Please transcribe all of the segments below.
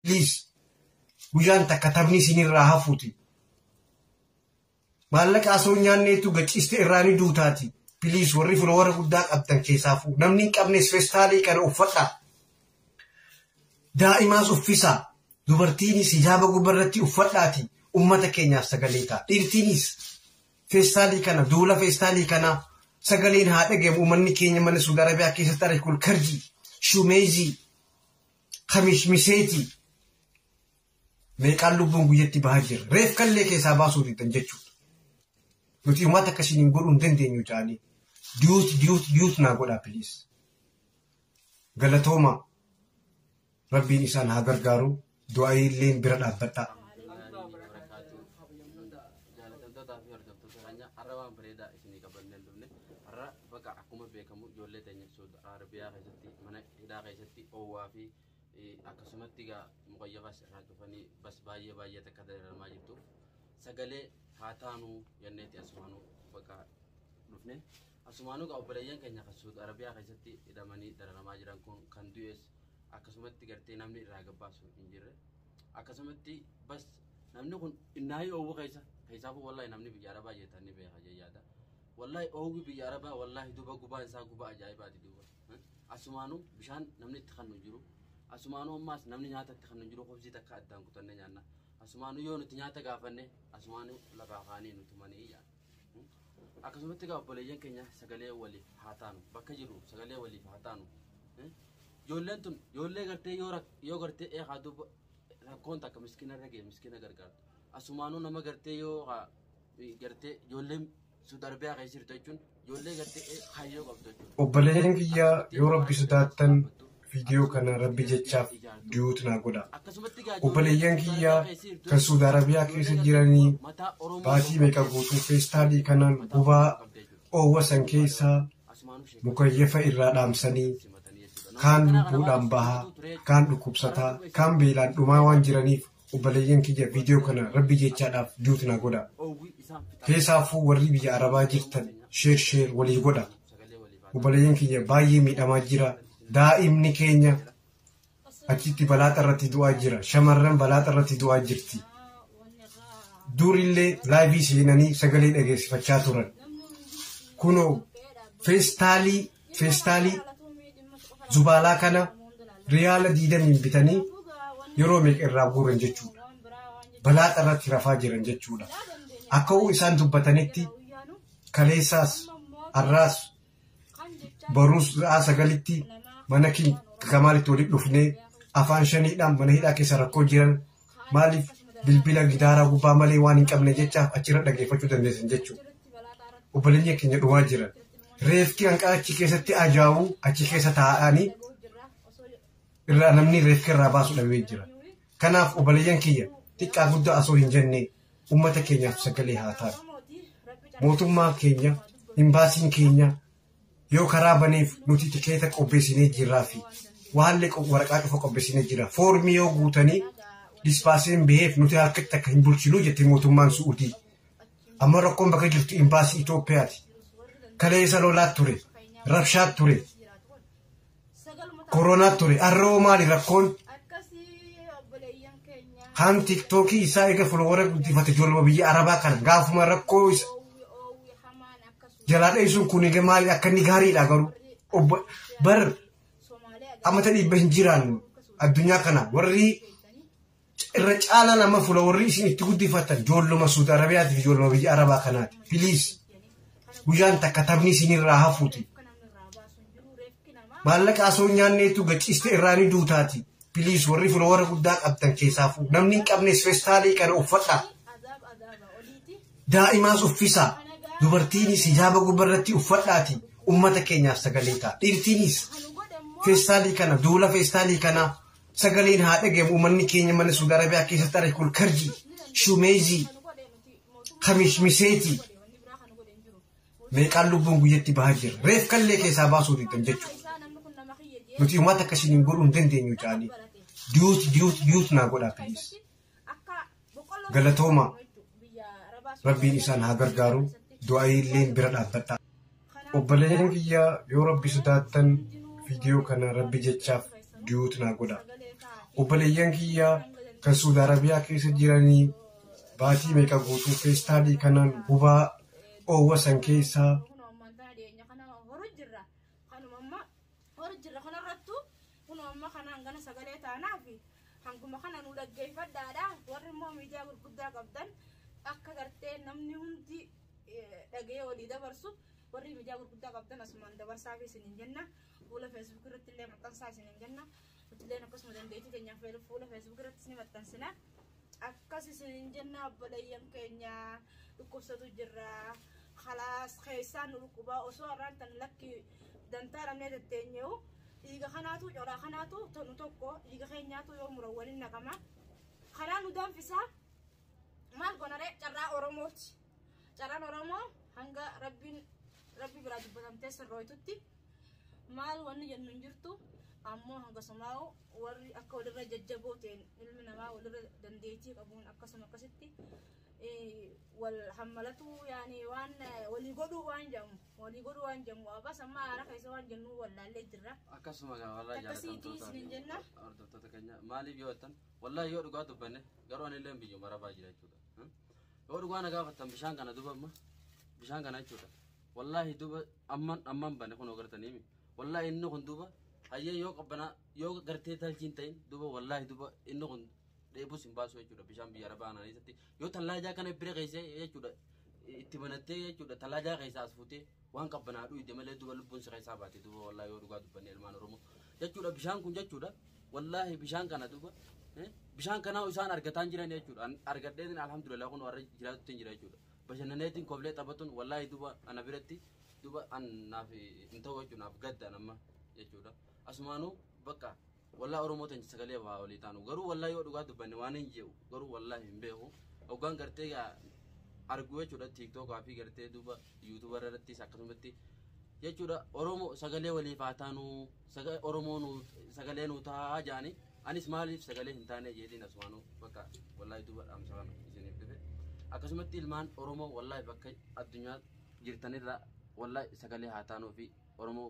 please guyyaan takka taphni isinirraa hafuuti maallaqa asoo nyaanneetu gachiiste irraa ni duutaati please warri filoowara guddaa qabdan keessaa fuu namni hin qabnes festaalii kana uffadhaa daa'imaas uffisaa dubartiinis hijaaba gubbarratti uffadhaati ummata keenyaaf sagalee ta'a dhiirtiinis feestaalii kana duula feestaalii kana sagaleen haa dhagahamu uummanni keenya mana suudi arabiyaa keessatti arge kun karjii shumeezii kamismiseetii meeqaan lubbuun guyyatti bahaa jirra. Reef kallee keessaa baasuu diddan jechuudha. Nuti uummata akkasiin hin godhuu hin dandeenyu jedhanii diyuut diyuut diyuut naa godhaa piliis. Galatoomaa rabbiin isaan haa gargaaru du'aayii illee bira dhaabbadhaa. Jaalatamtootaa fi hordoftoota keenya har'a waan bareedaa isinii qabannee hin dhufne har'a bakka akkuma beekamu ijoollee teenya Suud Arabiyaa keessatti mana hidhaa keessatti oowwaa fi akkasumatti egaa muqayyafaas irraa cufanii bas baay'ee baay'ee takka dararamaa jirtuuf sagalee haa taanuu jenneetti asumaanuu bakka dhufne asumaanuu egaa obboleeyyan keenya kan suud arabiyaa keessatti hidhamanii dararamaa jiran kun kan du'es akkasumatti gartee namni irraa gabbaasu hin jirre akkasumatti bas namni kun innaayii oowwu keessa keessaa kun wallaahi namni biyya arabaa jeetan ni beeka jayyaada wallaahi oowwi biyya arabaa wallaahi duba gubaan isaa guba ajaa'ibaati duuba Asumaanuu bishaan namni itti kannu hin jiru. Asumaanuu ammaas namni nyaata itti kannu hin jiru. Kobsii takka addaan kutannee nyaanna. Asumaanuu yoo nuti nyaata gaafanne asumaanuu lafaa kaanii nu tumanii jedhan. Akkasumatti egaa obboleeyyan keenya sagalee waliif haa taanu. Bakka jirru sagalee waliif haa taanu. Ijoolleen tun ijoollee gartee yoo rak- yoo gartee eegaa duuba rakkoon takka miskiina irra ga'e miskiina gargaartu. Asumaanuu nama gartee yoo haa- gartee ijoolleen Suudi Arabiyaa keessa jirtu jechuun ijoollee gartee kaayyoo qabdu jechuudha. Obboleeyyan kiyya yoo rabbi sodaattan viidiyoo kana rabbi jechaaf diyuut naa godha. Obboleeyyan kiyya kan Suudi Arabiyaa keessa jiranii baatii meeqa guutuu feestaalii kanaan gubaa oowwa san keessaa mukayyafa irraa dhaamsanii kaan lubbuudhaan bahaa kaan dhukkubsataa kaan beelaan dhumaa waan jiraniif Obboleeyyan kiyya viidiyoo kana rabbi jechaadhaaf duuti na godha. Keessaafuu warri biyya arabaa jirtan sheer sheer walii godha. Obboleeyyan kiyya baay'ee miidhamaa jira. Daa'imni keenya achitti balaaxa irratti du'aa jira. Shamarran balaaxa irratti du'aa jirti. Durillee laayivii seenanii sagalee dhageessifachaa turan. Kunoo feestaalii feestaalii zubaalaa kana riyaala diidamiin bitanii yeroo meeqa irraa guuran jechuudha. Balaa irratti rafaa jiran jechuudha. Akka'uu isaan dubbatanitti kaleessaas har'aas baruus sa'aa sagalitti mana kamaalitti walitti dhufnee afaan shaniidhaan mana hidhaa keessa rakkoo jiran Maaliif bilbila gitaaraa gubbaa malee waan hin qabne jecha achirra dhageeffachuu dandeessan jechuudha. Obboleeyyan keenya dhumaa jiran. Reefki hanqaa achi keessatti ajaa'uu achi keessa taa'anii irraa namni reefka irraa baasu dhabee jira. Kanaaf obboleeyyan kiyya xiqqaa guddaa osoo hin jenne uummata keenyaaf sagalee haa taatu. Mootummaa keenya, imbaasiin keenya, yoo karaa baneef nuti tikeeta qopheessinee jirraa fi waallee waraqaa cufa qopheessinee jira. Foormii yoo guutanii dispaasiin baheef nuti harkatti akka hin bulchinuu jette mootummaan Su'udii. Amma rakkoon bakka jirtu imbaasii Itoophiyaati. Kaleessa lolaat ture, rabshaat ture. koronaa ture arroo maali rakkoon kaan tiktookii isaa eega folowara guddifate ijoollee biyya arabaa kana gaafuma rakkoo isa jalaa dheessuun kun egaa maali akka inni gaariidha garuu obbo bar ammata dhibba hin jiraan addunyaa kana warri Irra caalaan amma fuula warri isin itti guddifatan joolluma Suudi Arabiyaati fi joolluma biyya Arabaa kanaati. Piliis guyyaan takka taphni isinirraa hafuuti. Maallaqa asoo nyaanneetu gachiiste irraa ni duutaati. Piliis warri fuula warra guddaa qabdan keessaa fuudhu. Namni hin qabnes feestaalii kana uffadhaa. Daa'imaas uffisaa. Dubartiinis hijaaba gubbarratti uffadhaati. Uummata keenyaaf sagalee ta'a. Dhiirtiinis feestaalii kana duula feestaalii kanaa Sagaleen haa dhagahamu uummanni keenya mana Suudi Arabiyaa keessatti arge kun karjii, shumeezii, kamishmiseetii meeqaan lubbuun guyyatti bahaa jira. Reef kallee keessaa baasuu diddan jechuudha. Nuti uummata akkasiin hin godhuu hin dandeenyu jedhanii diyuut diyuut diyuut naa godhaa ta'es. Galatoomaa rabbiin isaan haa gargaaru du'aayii illee bira dhaabbadha. Obboleeyyan kiyya yoo rabbi sodaattan viidiyoo kana rabbi jechaaf diyuut naa godha. Obboleeyyan kiyya kan Suudi Arabiyaa keessa jiranii baatii meeqa guutuu feestaalii kanaan gubaa oowwa san keessaa hor jirra kanarrattu kun amma kana hangana sagalee taanaaf hanguma kana nu dhaggeeffadhaadha warri immoo miidiyaa gurguddaa qabdan akka gartee namni hundi dhagee walii dabarsu warri miidiyaa gurguddaa qabdan asumaan dabarsaaf isinin jenna fuula feesbuuk irratti illee maxxansaa isinin jenna Nutilleen akkasuma dandeettii teenyaan feeru fuula feesbuuk irrattis ni maxxansina. Akkas isiniin jenna obboleeyyan keenya dhukkubsatu jirra. Kalaas keessaan nu dhukkubaa osoo har'aan tan lakki dantaa dhabnee tetteenyeewu dhiiga kanaatu coraa kanaatu tonu tokko dhiiga keenyaatu yoo muran waliin naqama. Kanaa nu danfisaa maal gonaree carraa Oromooti. Carraan Oromoo hanga rabbiin rabbi biraa dubbatamtee sirrooytutti maal wanni jennu hin jirtu ammoo hanga sumaa'u warri akka walirra jajjaboo ta'een ilmi namaa walirra dandeettii qabuun akkasuma akkasitti wal hammalatuu yaani waan walii godhuu waan jedhamu walii godhuu waan jedhamu abas amma haara keessa waan jennu wallaallee jirra. Akkasuma gaa warra jaallatamtoota hordoftoota keenya maaliif yoo jettan wallaahi yoo dhugaa dubbanne garuu anillee biyyuma rabaa jira jechuudha. Yoo dhugaa na gaafattan bishaan kana duba amma bishaan kana jechuudha. Wallaahi duba amman amman bane kun ogartanii mi. Wallaahi inni kun duba hayyee yoo qabbanaa yoo gartee taljiin ta'in duba wallaahi duba inni kun dheebus hin baasu jechuudha bishaan biyya arabaa kana keessatti yoo tallaajaa kana bira keessee jechuudha itti banattee jechuudha tallaajaa keessaa as fuutee Waan qabbanaa dhuyde malee duba lubbuun si keessaa baate duba wallahi yoo dhugaa dubbanne ilmaan oromoo jechuudha bishaan kun jechuudha wallahi bishaan kana duba eh, bishaan kanaa isaan argataan jiran jechuudha An argadheetin alhamdulillah kun warra jiraatutti hin jira jechuudha bashannaneetiin koblee taphatuun wallahi duba ana biratti duba an naaf hin ta'u jechuudha naaf gadda nama jechuudha asumaanuu bakka Wallah oromoo tench sagalee waa olii taanu garuu wallah yoo dhugaa dubbanne waan hin je'u garuu wallah hin beeku hoggaan gartee gaa arguu jechuudha tiiktookaa fi gartee duuba yuutuuba irrattis akkasumatti jechuudha oromoo sagalee waliif haa taanu saga oromoo nuu sagalee nuu taa'aa jaani anis maaliif sagalee hin taane jeetiin asumaanuu bakka wallah duuba dhaamsa kana isiniif dhufe akkasumatti ilmaan oromoo wallah bakka addunyaa jirtanirra wallah sagalee haa taanuu fi oromoo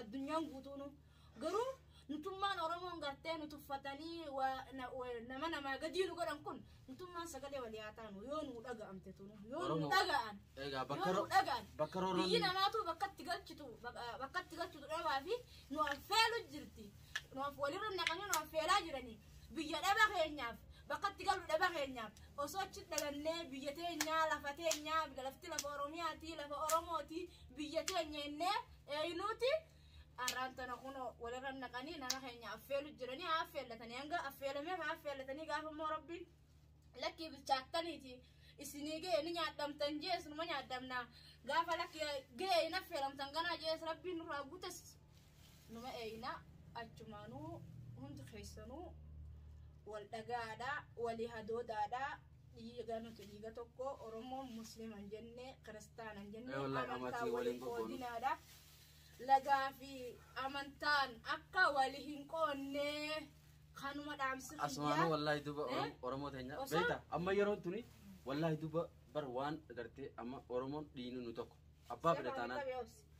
Addunyaan guutuunu. Garuu nutummaan Oromoon gartee nu tuffatanii waa- na- wa- nama namaa gadii nu godhan kun nutummaan sagalee walii haa taanu yoo nu dhaga'amte tunu yoo nu Oromoo. dhaga'an Egaa bakka yoo nu ro- dhaga'an bakka roorroon- biyyi namaatu bakkatti galchitu bak- bakkatti galchitu dhabaa fi nu affeelu jirti nu aff- walirra naqanii nu affeelaa jiranii biyya dhaba keenyaaf bakkatti galu dhaba keenyaaf osoo achi dhalannee biyya teenyaa lafa teenyaa lafti lafa oromiyaatii lafa oromootii biyya teenya innee Eeynuuti arraan tana kunoo walirra naqanii nama keenya affeelu jiranii haa affeellatanii hanga affeelamee haa affeellatanii gaafa immoo rabbiin lakkii bilchaattaniiti isinii ga'e ni nyaadhamtan jees numa nyaadhamna gaafa lakki ga'e hin affeelamtan ganaa jees rabbiin nurraa guutes numa eeyna achumaanuu hundi keessanuu wal dhagaadhaa walii hadoodaadhaa Dhiiga nuti dhiiga tokko Oromoon Muslima hin jenne Kiristaana hin jenne amantaa wal hin qoodinaadha. Lagaa fi amantaan akka wal hin qoonne kanuma dhaamsi kiyya. Asumaanuu wallaahi duba Eh? Oromoo teenya Osoo- beekta amma yeroon tuni wallaahi duba bar waan gartee amma Oromoon dhiinu nu tokko abbaa fedha taanaan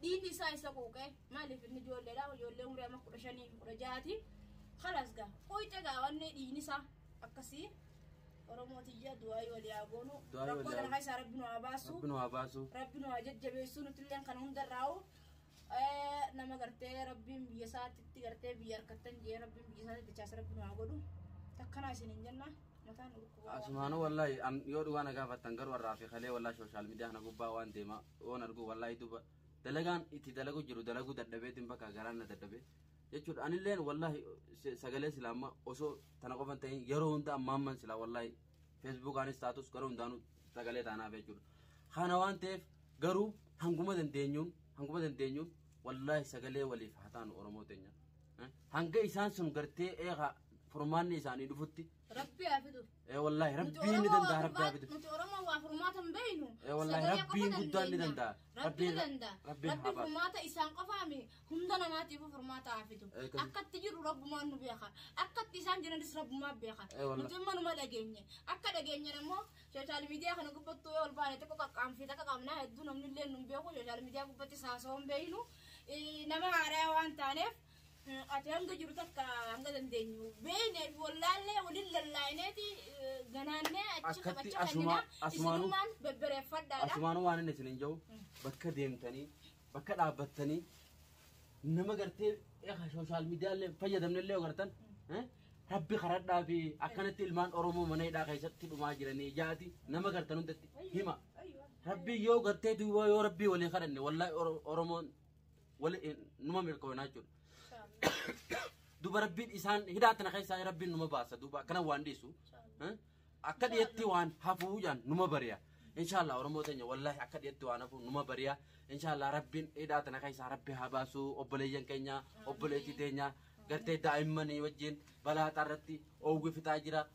Dhiiti isaa isa quuqee maaliif inni ijoolleedha ijoollee umrii amma kudha shanii fi kudha ja'aati kalas gaa quuqe gaa wanni dhiigni isaa akkasii Oromoo tiyya du'aayii walii haa goonu Du'aayii rakkoo walii haa- kana keessaa rabbi nu haa baasu Rabbi nu haa baasu. rabbi nu haa jajjabeessu nuti illee kan hundarraa'u Eh, nama gartee rabbiin biyya isaatti gartee biyya harkattan jee rabbiin biyya isaatti dachaas rabbi nu haa godhu takkanaa isin hin jenna mataan dhukkuba waan Asumaanuu wallaahi an yoo dhugaa na gaafattan garuu har'aa fi kalee wallaahi sooshaal miidiyaa kana gubbaa waan deemaa Yoon argu wallaahi duba dalagaan itti dalagu jiru dalaguu dadhabeetiin bakka garaan na dadhabe jechuudha. Anilleen wallaahi se- sagalee silaa amma osoo tana qofan ta'in yeroo hunda ammaamman silaa wallaahi feesbuukaanis taatus gara hundaanuu sagalee taanaaf jechuudha. Kana waan ta'eef garuu hanguma dandeenyuun hanguma dandeenyuun wallaahi sagalee waliif haa taanu Oromoo teenya. Eh, Hanga isaan sun gartee eegaa furmaanni isaanii dhufutti Rabbi haa fidu. ee wallaahi rabbiin ni danda'a rabbi haa bitu Nuti Oromoo waa furmaata hin beeknu. Ee, wallaahi Sagalee qofa Rabbiin guddaan ni dandeenya. danda'a. Rabbiin Rabbiin- danda'a. Rabbiin Rabbi haa baasu. furmaata isaan qofaa miti. Hunda namaatiif furmaata haa fidu. Ee, kan- Akkatti jiru rabbumaan nu beeka. Akkatti isaan jiranis rabbumaan beeka. Ee, wallaahi. Nuti immoo numa dhageenye. Akka dhageenye immoo sooshaal miidiyaa kana gubbattuu yoo ol baane tokko qaqqaamfii takka qabnaa hedduu namni illee nu hin beeku sooshaal miidiyaa gubbatti saasoo hin beeknu. Ee, Nama haaraa waan taaneef ati hanga jiru takka hanga dandeenyu beeknee fi wallaallee waliin lallaa'ineeti ganaannee achi Akkatti taphacha asuma- kennina asumaanuu- isinumaan bebbereeffadhaadha. Asumaanuu waan inni isiniin jedhu bakka deemtanii bakka dhaabbattanii nama gartee sooshaal miidiyaallee fayyadamnellee yoo gartan eh, rabbi karadhaa fi akkanatti ilmaan Oromoo mana hidhaa keessatti dhumaa jiranii jaati nama gartan hundatti hima. Rabbi yoo gartee duwwaa yoo rabbii walii kadhanne wallaahi Oro- Oromoon wali eh, numa milkoonaa jechuudha. Duba rabbiin isaan hidhaa tana keessaa rabbiin numa baasa duuba akkana waan dhiisu. eh, Akka dhiyetti waan hafuu jaan numa bari'a. Inshaallah Oromoo teenya wallaahi akka dhiyetti waan hafuu numa bari'a. Inshaallah rabbiin hidhaa tana keessaa rabbi haa baasu obboleeyyan keenya obboleettii teenya gartee daa'immanii wajjin balaa xaarratti oowwi fixaa jira.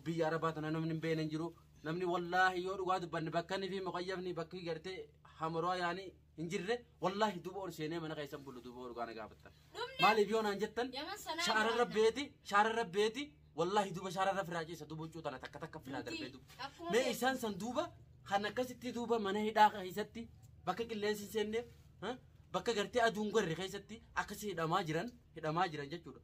Biyya arabaa tana namni hin beekne hin jiru. Namni wallaahi yoo dhugaa dubbanne bakka inni fi muqayyafni bakki gartee hamaroo yaanii hin jirre wallaahi duuba ol seenee mana keessan bulu duuba ol gaana gaafattan maaliif yoo naan jettan shaara rabbeeti shaara rabbeeti wallaahi duuba shaara rabbi firaa ciisa duuba huccuu tana takka takka firaa darbee duuba mee isaan san duuba kan akkasitti duuba mana hidhaa keessatti bakka qilleensi hin seenneef bakka gartee aduun gorre keessatti akkasii hidhamaa jiran hidhamaa jiran jechuudha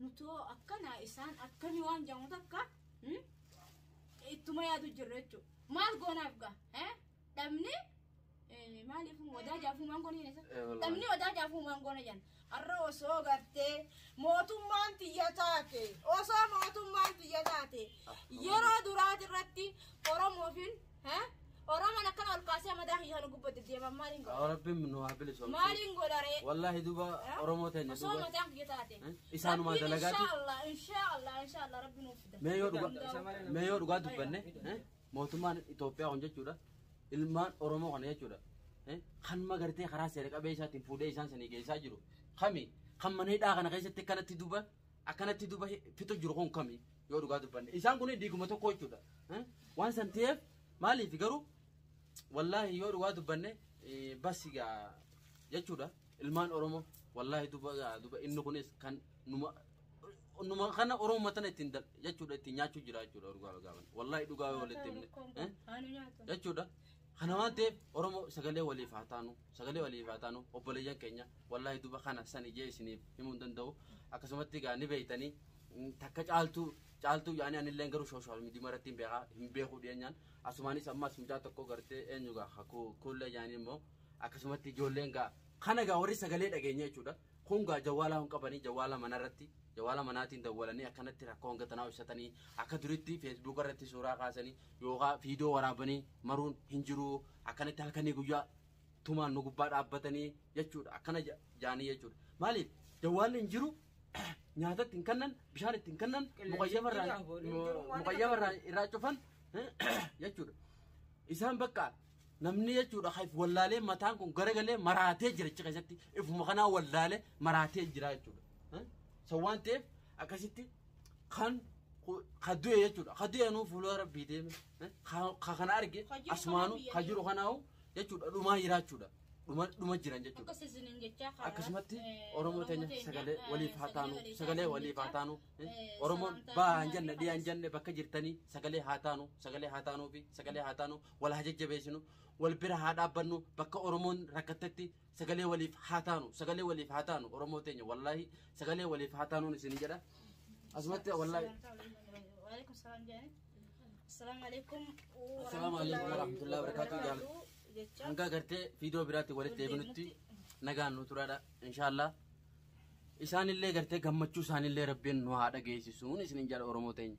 Nuti hoo akkana isaan akkami waan jedhamu takka hmm? ittuma yaadu jirra jechuudha. Maal goonaaf gaa? Eh? Dhabni eh, maaliif wadaa jaafuu maangoon hin isa? Eh, wallahi. Dhabni wadaa jaafuu maangoon jedhan. Har'a osoo gartee mootummaan tiyya taate osoo mootummaan tiyya taate yeroo duraati irratti Oromoofiin Hee? Oromoon akkana ol kaasee madaa kiyya kana gubbatti deeman maaliin godha? Yaa Rabbiin nu haa bilisoomu. Maaliin godha ree? Wallaahi duuba Hee? Oromoo teenya Osoo duuba. mataan kiyya taate. Hee? Isaanuma Rabbiin dalagaati. Inshaallah, inshaallah, inshaallah rabbi nuuf fida. Mee yoo dhugaa Hundaa'u. mee yoo dhugaa dubbanne eh, mootummaan Itoophiyaa kun jechuudha ilmaan Oromoo kana jechuudha eh, kan magartee karaa seera qabeessaatiin fuudhee isaan sanii geessaa jiru kami kan mana hidhaa kana keessatti akkanatti duba akkanatti duba fixu jiru kun kami yoo dhugaa dubbanne isaan kun dhiiguma tokko jechuudha Eh? waan san ta'eef maaliif garuu wallaahi yoo dhugaa dubbanne eh, bas gaa jechuudha ilmaan oromoo wallaahi duba gaa duba inni kunis kan numa numa kana oromoo matana ittiin dal- jechuudha ittiin nyaachuu jira jechuudha dhugaa dhugaa baanne. wallaahi dhugaa yoo walitti himne Eh? Haanu nyaatu. jechuudha kana waan ta'eef oromoo sagalee waliif haa taanu sagalee waliif haa taanu obboleeyyan keenya wallaahi duba kana san ijee isiniif himuu hin danda'u akkasumatti gaa ni beeytanii takka caaltuu caaltuu yaani anillee garuu social media maratti hin beekaa hin beekuu dhiyeenyaan asumaanis ammas mucaa tokko gartee eenyu gaa kakuu kuullee yaani immoo akkasumatti ijoolleen gaa kana gaa warri sagalee dhageenya jechuudha kun gaa jawwaalaa hin qabanii jawwaala manarratti jawwaala manaatiin dawwalanii akkanatti rakkoo hanga tanaa ibsatanii akka duritti feesbuuk irratti suuraa kaasanii yookaan viidiyoo waraabanii maruun hin jiru akkanatti halkanii guyyaa tumaan nu gubbaa dhaabbatanii jechuudha akkana jaanii jechuudha maaliif jawwaalli hin jiru nyaata ittiin kennan bishaan ittiin kennan muqayyama irraa muqayyama irraa irraa cufan jechuudha. Isaan bakka namni jechuudha kan if wallaalee mataan kun garagalee maraatee jira jechuudha keessatti ifuma kanaa wallaalee maraatee jira jechuudha. So waan ta'eef akkasitti kan ka du'e jechuudha. Ka du'e nuu fuula rabbii deeme. Ka kana arge asumaanuu ka jiru kanaahu jechuudha dhumaa jira jechuudha. dhuma dhuma jiran jechuudha. Akka seasoniin jechaa karaa, Akkasumatti eh, Oromoo teenya teenya, sagalee eh, waliif haa taanu, waliif sagalee taanu waliif haa jechaa, taanu. eh, eh, Oromoon sagantaa baa hin kanaa jenne, dhiyaa hin jenne bakka jirtanii sagalee haa taanu, sagalee haa taanuu fi sagalee haa taanu, wal haa jajjabeessinu, wal bira haa dhaabbannu, bakka Oromoon rakkattetti sagalee waliif haa taanu, sagalee waliif haa taanu, Oromoo teenya wallaahi sagalee waliif haa taanuun isin jedha. Asumatti wallaahi. Waalaikum salaam jedhanii. Assalamu alaikum. Assalamu alaikum warahmatullahi wabarakatuh jaal. Jecha Hanga gartee viidiyoo biraatti walitti eebinutti nagaan nu turaadha inshaallah. Isaanillee gartee gammachuu isaanillee rabbiin nu haa dhageessisuun isinin jala Oromoo teenya.